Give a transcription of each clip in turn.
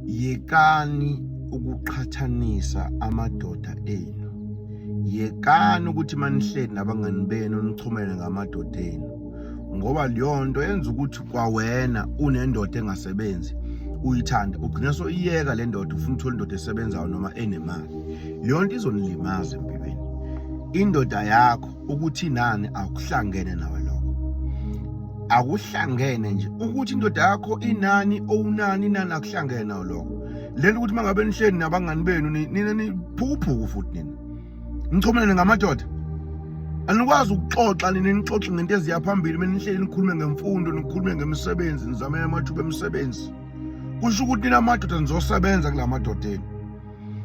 yekani ukuqhathanisa amadoda enu yekani ukuthi manihleli nabangani benu nichumele ngamadoda enu ngoba leyo nto yenza ukuthi kwawena unendoda engasebenzi uyithanda ugcina soyiyeka le ndoda ufuna uthola indoda esebenzayo noma enemali leyo nto izonilimaza empilweni indoda yakho ukuthi nani akuhlangene nawe lokho akuhlangene nje ukuthi indoda yakho inani owunani nani akuhlangene nawe lokho lento ukuthi mangabe nihleni nabangani benu nina niphukuphuku futhi nina nichomelene ngamadoda anikwazi ukuxoxa nina nixoxe ngento eziya phambili mina nihleli nikhulume ngemfundo nikhulume ngemisebenzi nizamele amathuba emisebenzi kusho ukuthi nina amadoda nizosebenza kula madoda enu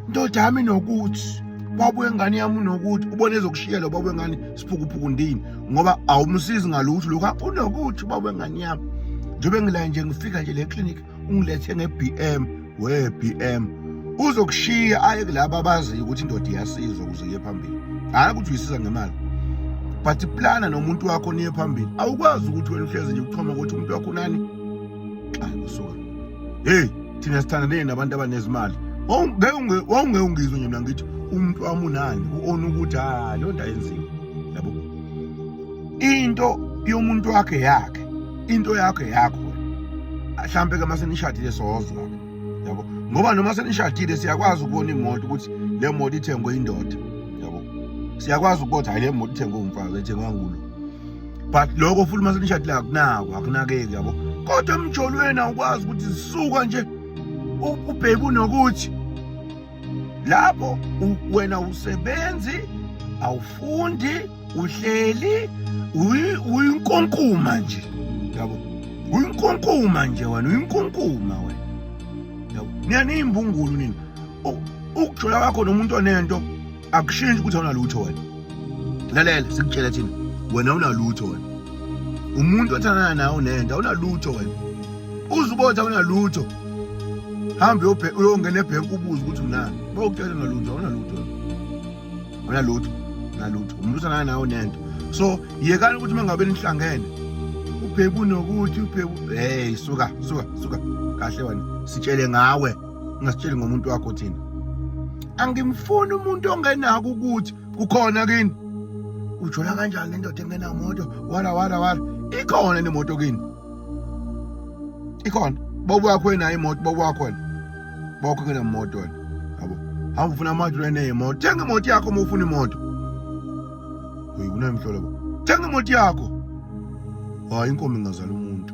ndoda yami nokuthi baba wengane yami unokuthi ubona ezokushiyela ubaba wengane siphukuphuku ndini ngoba awumsizi ngalutho lokho unokuthi ubaba wengane yami njengoba ngilaye nje ngifika nje le clinic ungilethe nge-bm we-bm uzokushiya aye kulaba abaziyo ukuthi indoda iyasizwa ukuze iye phambili hhayi ukuthi uyisiza ngemali but plana nomuntu wakho niye phambili awukwazi ukuthi wena uhlezi nje uchoma ukuthi umuntu wakho unani ayi usuka heyi thina sithandane nabantu abanezimali wawungeke ungizwe nje mina ngithi umuntu wami unani u-ona ukuthi ha leyo nto ayenziwe yabo into yomuntu wakhe yakhe into yakhe yakho mhlampe ke mase nishadile sozwa yabo ngoba noma senishadile siyakwazi ukubona imoto ukuthi le moto ithengwe indoda yabo siyakwazi ukuthi hayi le moto ithengwe umfazi ethengwa ngulo but lokho futhi uma senishadile akunako akunakeki yabo kodwa emjolweni awukwazi ukuthi zisuka nje ubheke unokuthi lapho wena usebenzi awufundi uhleli uyinkonkuma nje yabo uyinkonkuma nje wena uyinkonkuma wena yabo niyaniyimbungulu nini ukujola kwakho nomuntu onento akushintshi ukuthi awunalutho wena lalela sikutshela thina wena awunalutho wena umuntu othandana nawe unento awunalutho wena uze ubothi awunalutho hambe uyongena ebhenki ubuze ukuthi unani bawukutshela unalutho awunalutho awunalutho nalutho umuntu othandana nawe unento so yekani ukuthi uma ngabe nihlangene ubhebu nokuthi ubhebu hey suka suka suka kahle wena sitshele ngawe ungasitsheli ngomuntu wakho thina angimfuni umuntu ongenako ukuthi kukhona kini ujola kanjani nendoda engenamoto wala wala wala ikhona nemoto kini ikhona bobo wakho enayo imoto bobo wakho wena bokho ngenemoto wena yabo hamba ufuna amadoda eneyemoto thenga imoto yakho uma ufuna imoto uyi kunemhlolo bo thenga imoto yakho hayi inkomo ingazala umuntu